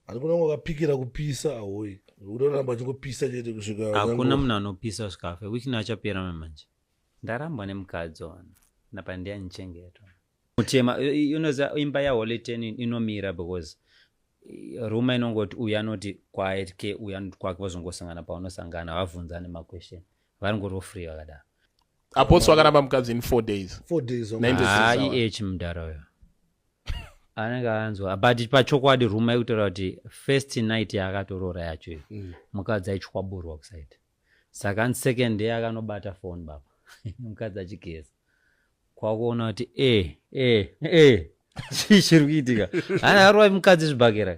Hakuna wakapikira kupisa ahoyi. Unoramba chingopisa chete kusvika. Hakuna munhu anopisa svikafe. Which na achapera manje. Ndarambwa nemukadzi ona. Napa ndiya nichengetwa. Mutema unoza imba ya Holy Ten inomira because eh, ruma inongoti uyu anoti quiet ke uyu anoti kwake vozongosangana paunosangana havabvunzane maquestion varingorofree vakadaro apostle akaramba mukadzi in four days four days ih mudhara uyo anenge anzwa but pachokwadi ruma yekutaura kuti first night yaakatoroora yacho iyo mm. mukadzi aichwaburwa kusaita saka an second day akanobata phone baba mukadzi achigeza kwakuona kuti e e e chii chiri kuitika ana arowa mukadzi zvibhakera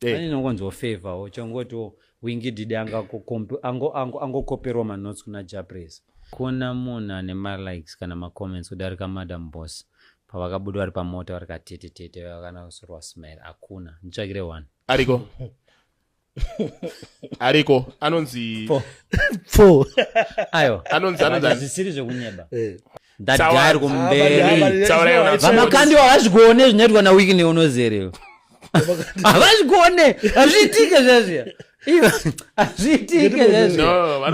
Eh. Ani nongonzwa favor wo chongoti wo wingi didi anga kukompe ango ango ango kopero ma notes kuna Japres. Kuna munhu ane ma likes kana ma comments kudarika madam boss pavakabuda vari pamota vari katete tete vakana kusorwa smile hakuna nditsvakire one ariko ariko anonzi pfo ayo anonzi anonzi zvisiri zvekunyeba eh. ndagari kumberi vamakandiwa havazvikuone zvinoitwa nawikine unozerewo havazvikuone hazviitike zvazviya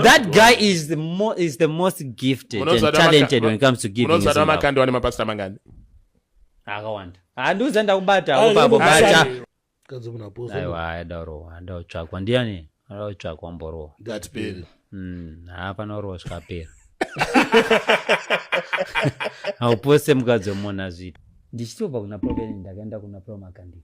that guy is the, mo is the most gifted and talented when it comes to giving unozvata makandi wane mapasita mangani akawanda handiuza ndakubata apo papo bacha mukadzi wemunhu aposa aiwa aida kurohwa aida kutsvakwa ndiani aida kutsvakwa mborohwa ngatipere Mm, haa panorohwa zvikapera haupose mukadzi wemunhu azviita ndichitobva kuna proveni ndakaenda kuna promakandii